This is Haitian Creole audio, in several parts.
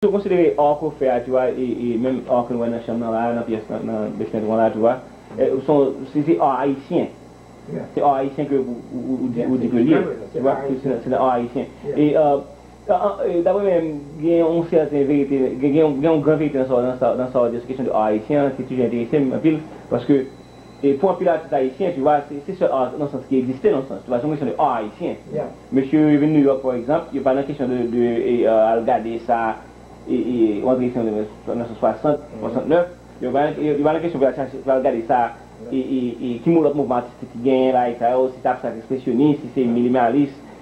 Tou konsidere ark ou fè a tou a e menm ark nou wè nan chanm nan la a nan pyès lan nan besment ou an la tou a son si se art ayisyen se art ayisyen ke ou di ke li ye se nan art ayisyen e Dapre mwen menm, gen yon sèten verite, gen yon gran verite nan sa ou di sou kesyon de ar ayisyen an ki toujou enterese m anpil, paske pou anpil atis ayisyen, tu vwa, se sèl ar nan yon sans ki egziste nan yon sans, tu vwa, se yon kesyon de ar ayisyen. Mesye yo vin Nouyòk pa egzanp, yo pa nan kesyon de al gade sa ou antre isit an 1960, 69, yo pa nan kesyon pou yo al chache, pou yo al gade sa ki lòt mouvman atistik ki genyen la, e sa yo, si se abstrak espresyonis, si se minimalis,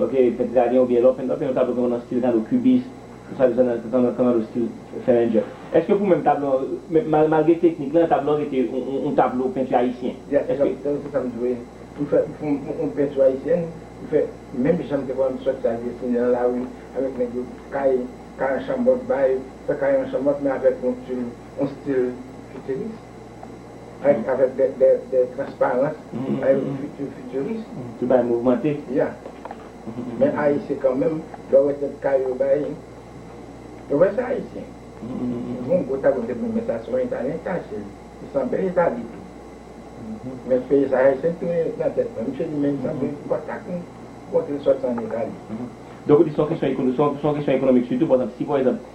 Ok pent dragen oubyen lò pent lò pent yon tablo gen nan stil kado kubis sa vle di sa nan kado stil fèlènjè eske pou menm tablo an malgre teknik lan tablo an rete yon tablo penti ayisyen eske. Yes se sam dwe pou fè yon penti ayisyen pou fè menm janm te konn sòti al desine nan lari avèk nèg yo kay kay an chanmòt bay fè kay an chanmòt men avèk yon stil futuriste. Avèk avèk dè dè dè transparans bay yon fiti fitiris. Ki bay mouvmante. Ya. Men Ayisyen kanmenm lè w wè tèt kay yo bay yo wè se Ayisyen. Bon gwo tablo m te konn wè men sa se yon Italyen ki ta achte l. Li sanble Itali tou. Men feye sa Ayisyen ki te mete nan tèt mwen. Misye di men li sanble kontak m montre l sòti an Itali. Donk ou di se yon kesyon ekonomik sitou pa ekzanp si pa ekzanp.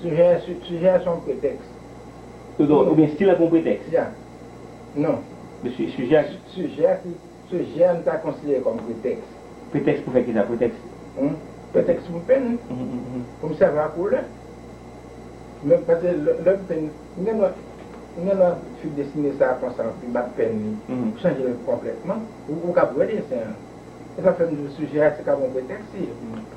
Sijè a, sijè a se yon pretèks. Oudon, oubyen stil la se yon pretèks? Ya. Non. Men si, sijè a. Sijè a se, sijè a nou ta konsidere kòm pretèks. Pretèks pou fè kisa? Pretèks. Hum. Pretèks pou m penn. Hum. Pou m sèvi ak koulè. Men, pase lè m penn, m gen dwa, m gen dwa fi desine sa konsa anpi bat penn li. Hum. Chanje l konplètman. Ou, ou kab wè desen an. Se sa k fè m di w sijè a se kab yon pretèks li ye pou mwen.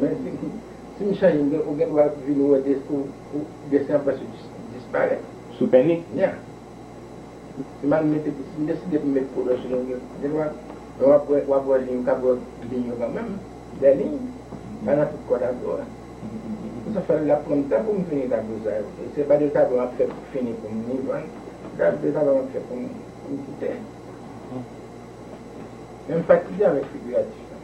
Men si si m chanje m gen ou gen dwa vini wè de ou ou desen an prèske dis disparèt. Sou peni? Yeah. Si m al mete si m deside pou m met couleur sou li m gen gen dwa men w ap wè w ap wè liy ou kab wè liy yo kanmenm. Dè liy pa nan tout kò tablo a. Se sa fè l ap pran m tan pou m fini tablo sa yo. E se pa de tablo m ap fè pou fini pou m ni vann. Se ta de tablo m ap fè pou m pou m kite. Men m fatige avèk figiratif la.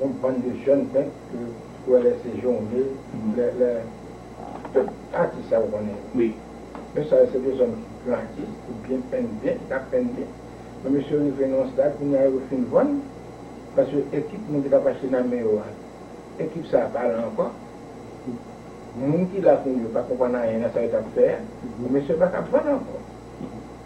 Yon bann de jèn penk ke ou wè lè se Journe, lè lè tout atis sa ou konnen yo. Wi. Yo sa yo se de zòn ki gran atis, ki byen penn byen, ki ka penn byen. Men mesye yo rive nan yon stad kounye a yo fin vann paske ekip moun ki tap achte nan men yo a, ekip sa a pa la ankò. Moun ki la kounye yo pa konprann anyen nan sa yo tap fè a. Mesye yo pa kab vann ankò.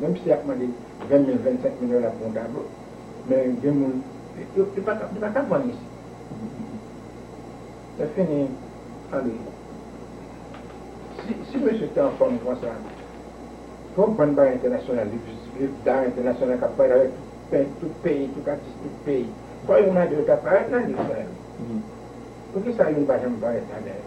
Menm si yap mande 20 mil 25 mil dola pou yon tablo men gen moun yo pa kap vann isit se fini Andre si mesye te anfom konsa fok bann bagay entènasyonal viv dar entènasyonal kap parèt avèk pent tout peyi tout atis tout peyi fò youn nan de yo ta parèt nan liv sa yo poukisa youn pa janm parèt ladan yo.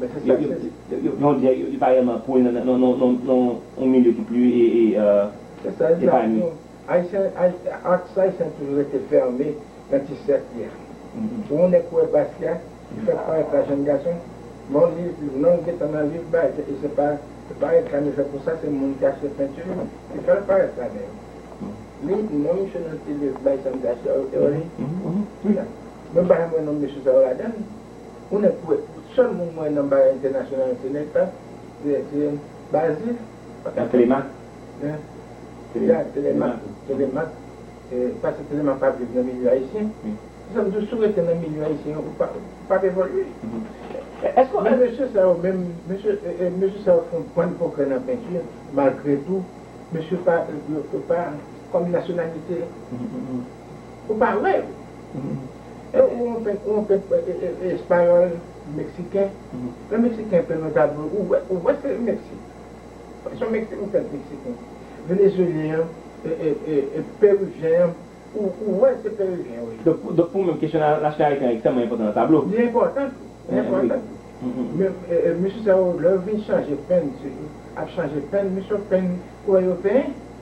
Yon dye li pa rèlman pou nan yon milye ki pli epanye. Aks Ayisyen toujou rete fèmen nan ti sèk li a. Pou yon nèg wè bas li a, li fèk parèt la jenn gason, non li gentan nan liv bay, e se pa reklam yo fè pou sa, se moun ki achte penti yo ki fè l parèt la dèyè. Li, non misye nan ti liv bay Sandra Cherry. Mwen pa janm wè non mesye sa yo ladan l. Ou nèk kwè sèl moun mwen nan bagay entènasyonal se nèk sa Tele Bazil Nan Telemak Nan Telemak Telemak Paske Telemak pa viv nan milye ayisyen Se sa m di w si w rete nan milye ayisyen ou pa w ap evolye Men mesye sa yo menm Mesye sa yo fè yon bann pwogrè nan penti malgre tou Mesye pa Yo pa kòm nasyonalite Ou pa wè yo. Ou wè yon pèp espayòl, meksiken, lè meksiken pè nan tablo ou wè se Meksik. Son pèp meksiken. Venezyelyen an, perivyen an, ou wè se perivyen yo ye. Donk pou ou menm kesyon nasyon ayisyen an ekstrèmman enpòtan nan tablo. Li enpòtan. Li enpòtan. Men mesye sa yo lè yo vin chanje penn, ap chanje penn, mesye yo penn koulè yo penyen.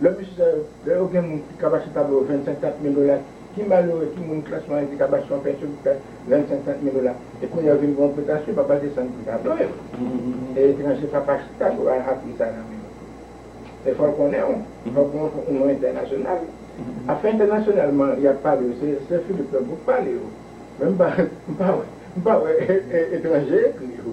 Lè mesye sa yo, lè yo gen moun ki kaba chita ba yo 25, 30 mil dola, ki malere, ki moun klas mwayen ki kab achte yon pensyon pou fè 25, 30 mil dola, e kounye a yo vin gen yon pretasyon, pa pral desann pri sa ba yo. Se etranje pa pa chita pou al ha pri sa nan men yo. E fò l konnen w, fò gen yon non entènasyonal. Afè entènasyonalman y ap pale yo, se sè Filip Lanmou k pale yo. Men m pa wè, m pa wè etranje ekri yo.